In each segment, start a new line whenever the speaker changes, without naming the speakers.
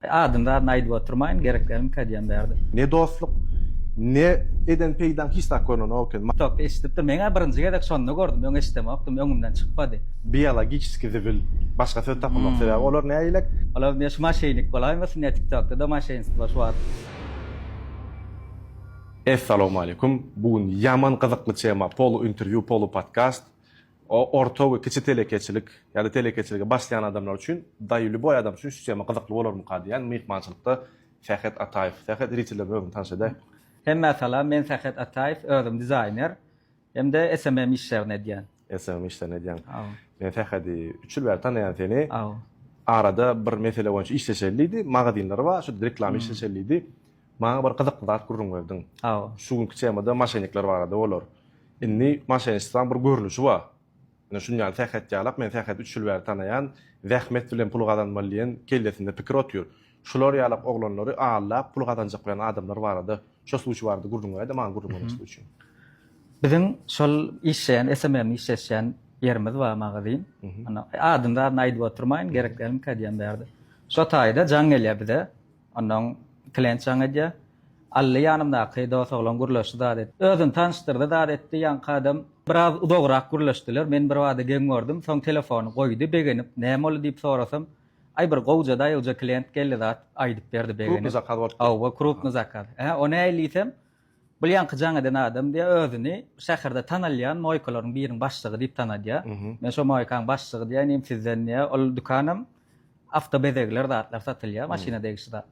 Adyny zadyny aýdyp oturmaýyn gerek dälmi kä diýen bärde. Ne dostluk
ne eden peýdaň hiç zat görnenok eken. Tokda eşidipdir meňä
birinji gezek şonda gördüm öň eşidemokdym öňümden çykmady. Biologiçiski
zibil başga söz tapamok sebäbi olar nägilek. Olar ne şu maşeýnik
bolaýmasyn ne tiktokda-da maşeýnstwo şu wagt.
Essalawmaleýkum bu gün ýaman gyzykly tema polu interview polu podcast. Orta we kiçi telekeçilik ýa-da telekeçilige başlaýan adamlar üçin, daýy lýuboý adam üçin şu tema gyzykly bolarmyka diýýän myhmançylykda Sähet Ataýew. Sähet zritellerimize özüňi tanyş edäý. Hemmä salam,
men Sähet Ataýew, özüm dizaýner hem-de SMM işlerini edýän. SMM işlerini edýäň.
Men Sähedi üç ýyl bäri tanaýan seni. Arada
bir
mesele boýunça işleşeli diýdi, magazynlary bar, şo reklama işleşeli diýdi. Maňa bir gyzykly zat gürrüň berdiň. Şu günki
temada
maşennikler barada bolar. Indi maşenniçtwaň bir görnüşi bar. Ine şuny ýaly sähet ýalap, men säheti üç ýyl bäri tanaýan, zähmet bilen pul gazanmaly diýen kellesinde pikir otyr. Şular ýalak oglanlary aldap pul gazanjak bilen adamlar barada, şo suwçy barada gürrüň beräýdä, maňa gürrüň bermek suwçy. Biziň
şol işleýän SMM işleşýän ýerimiz bar magazin. Anda adyny zadyny aýdyp oturmaýyn, gerek dälmikä diýýän bärde. Şo taýda jaň gelýär bize. Onnoň klen çaň edýär. Ally ýanymdaky dos oglan gürleşdi zat etdi. Özüni tanyşdyrdy zat etdi. Ýaňky adam biraz uzagrak gürleşdiler. Men birbada geň gördüm. Soň telefony goýdy begenip. Näme boldy diýip sorasam, Aý bir gowja daýawja klent geldi zat aýdyp berdi begenip. Krupny zakaz bolupdyr. Hawa
krupny zakaz.
Hä o nähili diýsem, Bul ýaňky jaň eden adam diýýär, özüni şäherde tanalýan moýkalaryň biriniň başlygy diýip tanadýar. Men şo moýkaň başlygy diýýär, inim sizden diýýär, ol dükanam awto bezegler zatlar satylýar, maşyna degişli zat.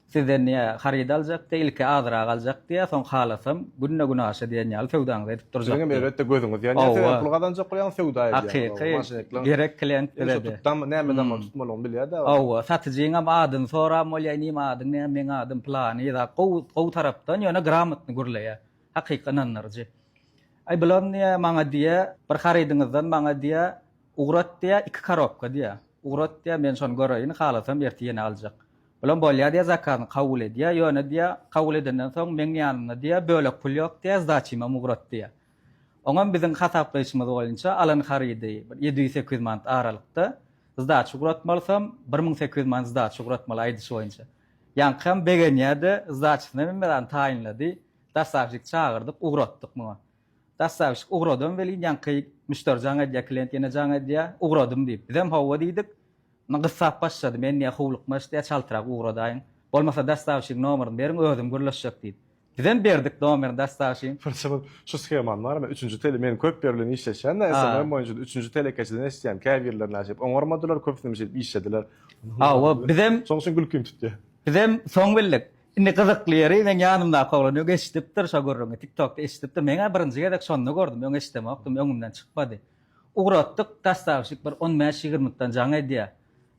Sizden diýýär, haryt aljak diýýär, ilki azyrak aljak diýýär, soň halasam günde-günaşa diýen ýaly söwdaňyzy edip durjak. Siziňem elbetde gözüňiz
ýanýar, sebäbi pul gazanjak bolýaňyz, söwda edýäňiz. Hakyky, gerek
klient bize-de. Tutdam, näme edem?
tutmalygyny bilýär däl. Hawa, satyjyňam
adyny soran bolýar, inim adyň näme, meň adym pylany zat, gowy, gowy tarapdan, ýöne gramotny gürleýär, hakyky ynandyryjy. Aý, bulam diýýär, maňa diýýär, bir harydyňyzdan maňa diýýär, ugrat diýýär, iki korobka diýýär, ugrat diýýär, men şony göreýin, halasam ertir ýene aljak. Bulam bolýar diýýär, zakazyny kabul edýär, ýöne diýýär, kabul edenden soň meň ýanymda diýýär, bölek pul ýok diýýär, zdaçymam ugrat diýýär. Oňam biziň hasaplaýşymyz boýunça alan harydy bir ýedi ýüz sekiz ýüz manat aralykda. Zdaç ugratmalysam bir müň sekiz ýüz manat zdaç ugratmaly aýdyşy boýunça. Ýaňkam begenýä-de zdaçysyny menden taýynlady. Dostawyşik çagyrdyk, ugratdyk muňa. Dostawyşik ugradam welin ýaňky müşderi jaň edýä, klient ýene jaň edýä, ugradym diýip. Bizem hawa diýdik. Indi gyssap başlady, men diýä howlukmaç diýä çaltrak ugradaýyň. Bolmasa dostawyşigiň nomeryny beriň özüm gürleşjek diýdi. Bizem berdik domer dastaşin. Birinji bir şu skeman
bar me üçünji tele men köp ýer bilen işleşýän da SMM boýunça üçünji telekeçiden eşitýän käbirler näşeýip oňarmadylar köpüsinem şeýdip işlediler. Hawa
bizem Şoň üçin gülkim tutýa.
Bizem soň
bildik. Indi gyzykly ýeri meň ýanymdaky oglan öň eşidipdir şo gürrüňi tiktokda eşidipdir meňä birinji gezek şonda gördüm öň eşidemokdym öňümden çykmady. Ugratdyk dastaşik bir on bäş ýigirmikden jaň edýä.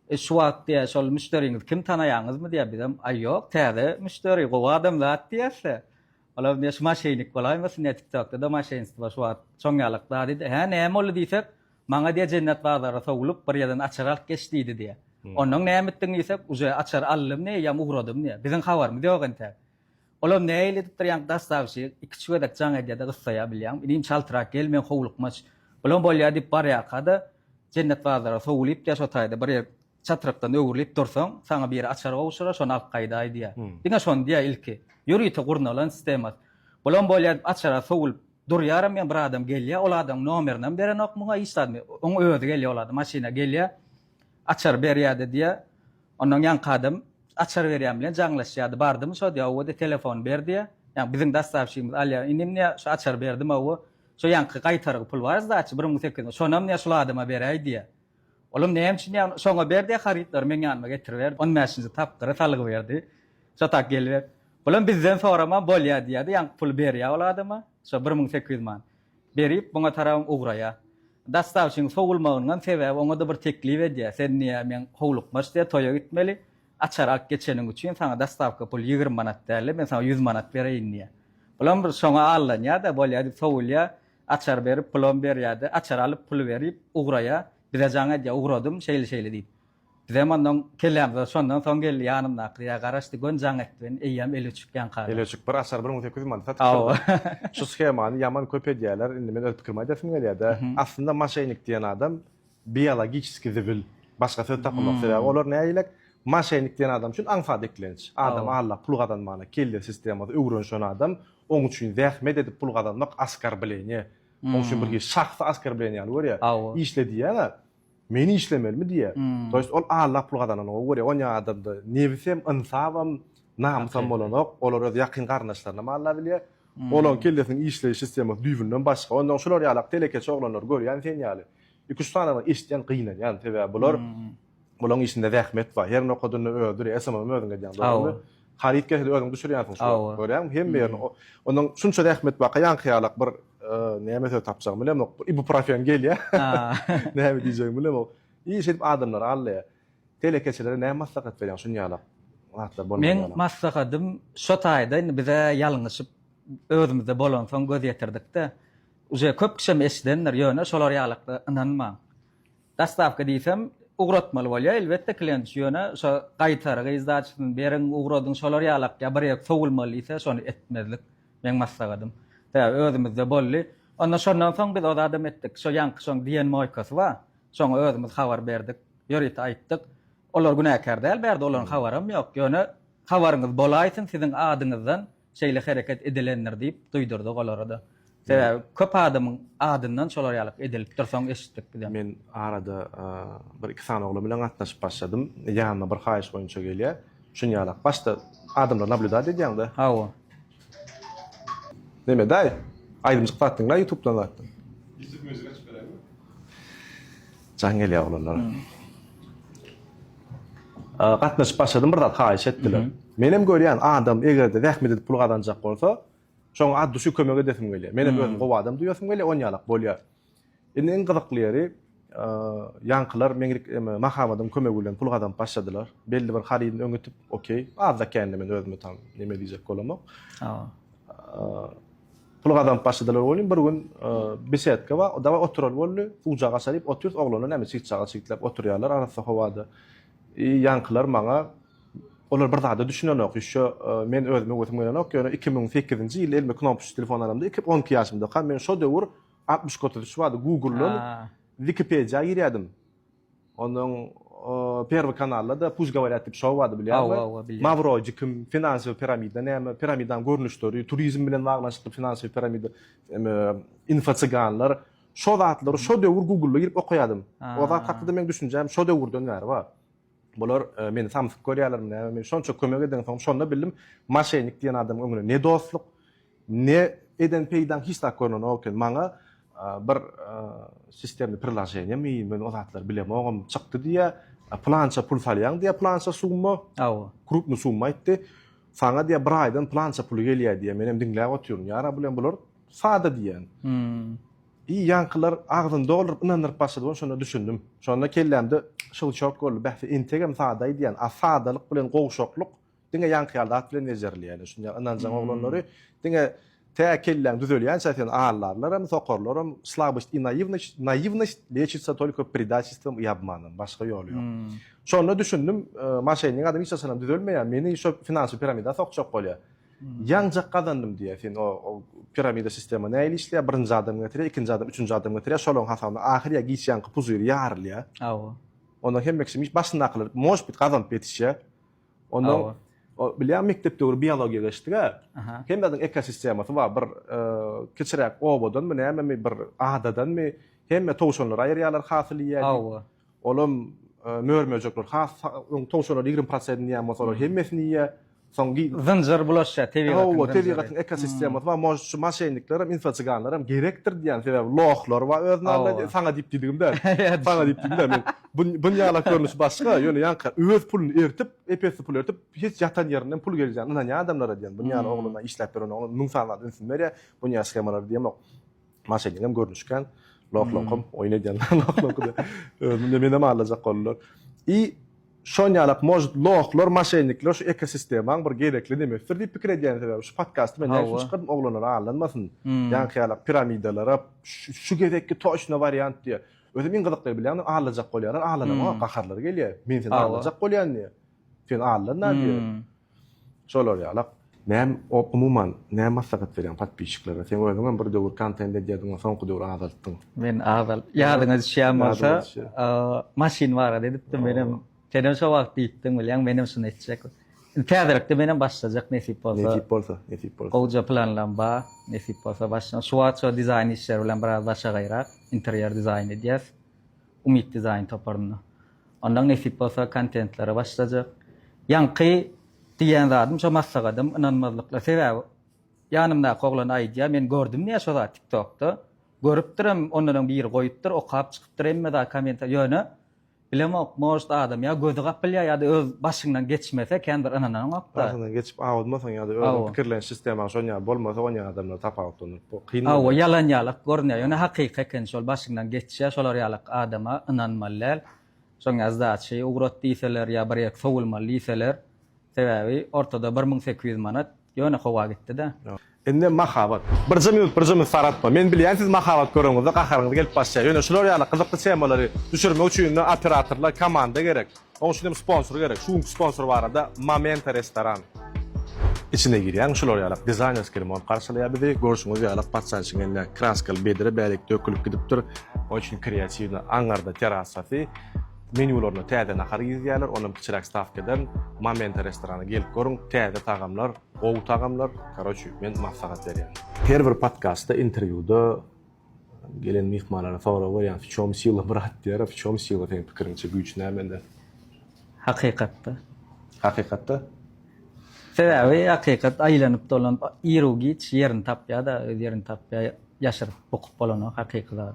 E şu wagt diýýär, şol müşderiňizi kim tanaýaňyzmy diýýär, bizem, aý ýok, täze müşderi, gowy adam zat diýýäs-de. Olam diýýär, şu maşennik bolaýmasyn diýýär, TikTokda-da maşenstwo şu wagt çon ýalak zat diýdi. Hä, näme boldy diýsek, maňa diýýär, Jennet bazara sowlup, bir ýerden açar alyp geç diýdi diýýär. Onnoň näme etdiň diýsek, uje açar aldym diýýär, ýam ugradym diýýär. Biziň habarymyz ýok entäk. Olar nähili edipdir ýaňky dassagşyk, iki-üç gezek jaň edýär-de gyssaýar bilýäňmi, inim çaltrak gel men howlukmaç, bulam bolýar diýip barýarka-da Jennet bazara sowulypdyr şo taýda bir ýer çatrykdan öwrülip dursaň, saňa biri açar gowşurar şony alyp gaýdaý diýýär. Diňe şony diýýär ilki. Ýörite gurnalan sistemasy. Bulam bolýar diýip açara sowulyp durýaram men bir adam gelýär, ol adamyň nomerinem berenok muňa hiç zat, oň özi gelýär ol adam maşyna gelýär açary berýär-de diýýär, Ondan ýaňky adam açar berýän bilen jaňlaşýardy. Bardymy şo diýýär, Hawa diýýär, telefony ber diýýär. Ýagny biziň dassawşigimiz alýar. Inim diýýär, şo açar berdim hawa. Şo ýaňky gaýtargy pul bar sdaçy, bir müň sekiz ýüz, şonam diýýär, şul adama beräý diýýär. Olam näme üçin diýýär, şoňa ber diýýär, harytlary meň ýanyma getiriber. On bäşinji tapgyry salgyberdi. Şo tak geliber. Bulam bizden soraman bolýar diýýär-de, ýaňky puly berýär ol adama, şo bir müň sekiz ýüz manat. Berip muňa tarap ugraýar. Dastavçynyň sowulmagyndan sebäbi oňa-da bir teklip edýär, Sen niýe meň howlukma işte toýa gitmeli, açar alyp geçeniň üçin saňa dastawka pul ýigrimi manat dälde, men saňa ýüz manat bereýin diýýär. Bulam bir şoňa allanýar-da, bolýar diýip sowulýar, açar berip pulam berýär-de, açar alyp puly berip ugraýar, bize jaň edýär, ugradym, şeýle-şeýle diýip. Bizem ondan kellämize şondan soň geldi ýanymdaky ýa garaşdy göni jaň etdi meni eýýäm eli öçük ýaňkada. Eli öçük bir açar bir müň sekiz
ýüz manata satypdyrda. Şu
shemany
ýaman köp edýäler indi men öz pikirimi aýdasim gelýädä aslynda maşenik diýen adam biologiçeski zibil başga söz tapamok sebäbi olar nägilek maşenik diýen adam üçin aňsat eklenç adam aldap pul gazanmana kelle sistemasy öwrenşen adam oň üçin zähmet edip pul gazanmak askarbleniýe oň üçin bir hili şahsy askarbleniýe ýaly görýä işle diýýäňä Men işlemelimi diýýär. To ýest ol Alla pul gazananyňa görýär. Onýa adamda nebisem, ynsabam, namysam bolanok. Olar öz ýakyn garyndaşlarynam Alla bilýär. Olaň kellesiniň işleýiş sistemasy düýbünden başga. Ondan şular ýalak telekeçi oglanlary görýän sen ýaly. Iki-üç sananyny eşitýän gynanýan. Sebäbi bular bulaň işinde zähmet bar. Herini okadynda öldür. Esamam özüň edýäň dogrymy? Haryt keseli özüň düşürýänsiň şu wagt. Görýäňmi hemme ýerini. Onuň şunça zähmet baka ýaňky ýalak bir näme söz tapjagym bilemok. Bir ibuprofen gelýär. Näme diýjegimi bilemok. Iş edip adamlary aldaýar. Telekeçilere näme maslahat berýäň şun ýalak zatlar bolmaly ýaly. Meň
maslahatym şo taýda indi bize ýalňyşyp özümizde bolansoň göz ýetirdik-de. Uje köp kişem eşidendir, ýöne şolar ýalakda ynanmaň. Dostawka diýsem, ugratmaly bolýar, elbetde, klient şu ýöne şo gaýtargy, izdaçysyny beriň, ugradyň, şolar ýaly akýar, bir ýer sowulmaly diýse, şony etmezlik meň maslagadym. Sebäbi özümizde boldy. Onda şondan soň biz ozadam etdik. Şo ýaňky şoň diýen moýkasy bar. Şoňa özümiz habar berdik. Ýörite aýtdyk. Olar günäkär däl, bärde olaryň habaram ýok. Ýöne habaryňyz bolaýsyn, siziň adyňyzdan şeýle hereket edilendir diýip duýdurdyk olara-da. Sebäbi köp adamyň adyndan şolar ýaly edilip dur, soň eşitdik bizem. Men arada bir-iki sany oglan bilen gatnaşyp başladym. Ýanyma bir haýyş boýunça gelýär. Şun ýalak. Başda adamlary nablýudat edýäň-de. Hawa. Neme daýy? Aýdymjyk zat diňlä ýutubdan zatdan. Ýutup muzyk açyp beräými? Jaň gelýär oglanlara. Gatnaşyp başladym bir zat haýyş etdiler. Menem görýän adam egerde zähmet edip pul gazanjak bolsa şoňa ad düşi kömek edesim gelýär. Menem özüm gowy adam duýasym gelýär on ýalak bolýar. Indi iň gyzykly ýeri ýaňkylar meň Mahabadyň kömegi bilen pul gazanyp başladylar. Belli bir harydyny öňütip okey azda kände men özümi tam neme diýjek bolamok. Pul gazanyp başladylar welin bir gün besedka bar, dawaý oturaly boldy. Suwjak aşa diýip otyrys, oglanlar näme çygçaga çygtlap oturýarlar arassa howada. I ýaňkylar maňa olar bir zada düşünenok, ýüşe men özüme wehim gelenok, ýöne iki müň sekizinji ýylda elime knopusçy telefon alamda iki on iki ýaşymdaka men şo döwür altmyş kötüdüş bardy, guguldan wikipediýa girýärdim. Onuň Perwy kanalda-da Puş govorýat diýip şou bardy bilýärmi? Hawa, hawa bilýän. Mawroji kim? Finansiýaw piramida näme? Piramidanyň görnüşleri, turizm bilen baglanyşykly finansiýaw piramida, em, info cyganlar. Şo zatlary şo döwür Google-a girip okaýardym. O zat hakda-da meň düşünjäm şo döwürden bäri bar. Bular meni samsyk görýärlermi näme? Men şonça kömek edensoň şonda bildim, moşennik diýen adamyň öňüne ne dostluk, Ne eden peýdaň hiç zat görnenok eken maňa bir sistemli priloženiýa mi men o zatlary bilemogam çykdy diýýä plança pul salýaň diýýä plança summa aw krupny summa aýtdy saňa diýýä bir aýdan plança puly gelýä diýýä menem diňläp otyryn ýara bilen bular sada diýýän i ýaňkylar agzyny dolduryp ynandyryp başlady men şonda düşündim şonda kellämde şylçok boldy bäh entegem sadaý diýýän a sadalyk bilen gowşaklyk Diňe ýaňky ýaly zat bilen bejerilýär. Şunda ynanjaň oglanlary diňe tä kelläň düzelýänçä seni aldarlaram, sokarlaram. Slabost i naivnost, naivnost lečitsa tolko predatelstvom i obmanom. Başga ýoly ýok. Şonda düşündim, maşennik adam hiç haçanam düzelmeýär. Meni şo finansiw piramida sokjak bolýar. Ýaňjak gazandym diýýär sen o piramida sistema nähili işleýär? Birinji adam getirýär, ikinji adam, üçünji adam getirýär. Şolaň hasabyna ahyr ýa giç ýaňky puzyr ýarylýar. Hawa. Onda hemme kişi başyndakylar, možbit, gazanyp ýetişýär. Onda bilýän mekdep döwri biologiýa geçdiga. Hem zadyň ekosistemasy bar. Bir kiçiräk obadanmy, nämemi bir adadanmy hemme towşanlary aýyrýarlar hasyl iýýän. Hawa. Olam mör-möjekler has towşanlar 20 prosentini ýa bolsa olar hemmesini iýýär. Soň zynjyr bulaşýar tebigatyň. Hawa, tebigatyň ekosistemasy bar. Mož şu maşennikler hem infoçyganlar hem gerekdir diýýän. Sebäbi lohlar bar özlerinde. Saňa diýip diýdigim däl. Saňa diýip diýdim däl. Men Bu buny ýalak görnüşi başga, ýöne ýaňky öz puluny eritip, ep-esli pul eritip, hiç ýatan ýerinden pul geljegine ynanýan adamlara diýen, buny ýaly oglana işläp beren oglan müň sany zat ünsüni berýär, buny ýaly shemalara diýemok. Maşennikam görnüşken, loh-loham oýun edýänler loh-lohy-da özüni menem aldajak boldular. I şon ýalak может lohlar, maşennikler şu ekosistemaň bir gerekli nemesidir diýip pikir edýän sebäbi şu podkasty men näme üçin çykardym oglanlar aldanmasyn ýaňky ýalak piramidalara şu gezekki toçna wariant diýe Özüm iň gyzyklyny bilýäňmi, aglajakk bolýarlar, aglanama, gaharlary gelýär. Men seni aglajakk bolýan diýýär. Sen aglanna diýýär. Şolar ýalak. Näm, umuman, näme maslahat berýäň podpisçiklere? Sen özüňem bir döwür kontent edýärdiň, soňky döwür azaltdyň. Men azalt, ýadyňa düşýän bolsa, maşyn barada edipdim, menem Senem şo wagt diýipdiň bilýäň menem şuny etjek. Indi täzelikde menem başlajak nesip bolsa. Nesip bolsa, nesip bolsa. Gowja
planlarym ba,
nesip bolsa başlaň. Şu wagt şo dizaýn işleri bilen biraz başagaýrak, interýer dizaýn edýäs. Umyt dizaýn toparynda. Ondan nesip bolsa kontentlere başlajak. Ýaňky diýýän zadym şo maslahatym ynanmazlykla sebäbi ýanymdaky oglan aýdýa men gördüm diýýä şo zat tiktokda. Görüpdirem ondanam biri goýupdyr okap çykypdyr hemme zat kommentariýa ýöne Bilemok, может adam ýa gözi gapylýar ýa-da öz başyňdan geçmese kän bir ynananyňok-da. Başyňdan geçip awudmasaň
ýa-da özüň pikirleniş sistemaň şon ýaly bolmasa onýaly adamlar tapawutlandyryp bu kyn bolýar. Hawa ýalan ýalak
görünýär ýöne hakyky eken şol başyňdan geçýär şolar ýalak adama ynanmaly däl. Şoň ýaly zat şeý ugrat diýseler ýa bir ýerki sowulmaly diýseler Sebäbi ortada bir müň sekiz ýüz manat ýöne howa gitdi-dä. Indi mahabat.
Birje minut, birje minut saratma. Men bilýän siz mahabat göreniňizde gaharyňyz gelip başlaýar. Ýöne şular ýaly gyzykly temalary düşürmek üçin indi operatorlar komanda gerek. Oň üçin hem sponsor gerek. Şu günki sponsor barada Momenta restoran. Içine girýäň şular ýalak dizaýnerskiý remont garşylaýar bizi. Görşüňiz ýalak patsançyň eline kraskaly bedre bärik dökülip gidipdir. Oň üçin kreatiwnyý aňňarda terasasy. Menýularyna täze nahar girizýärler, onam kiçiräk stawkadan. Momenta restorana gelip görüň, täze tagamlar, gowy tagamlar, karoçi, men maslahat berýän. Her bir podkastda, interwýuda gelen myhmanlara sorag berýän, w çom sila brat diýýär, a w çom sila seň pikiriňçe, güýç nämede?
Hakykatda.
Hakykatda?
Sebäbi hakykat aýlanyp dolanyp iru giç ýerini tapýada, öz ýerini tapýa, ýaşyryp bukup bolanok hakyky zat.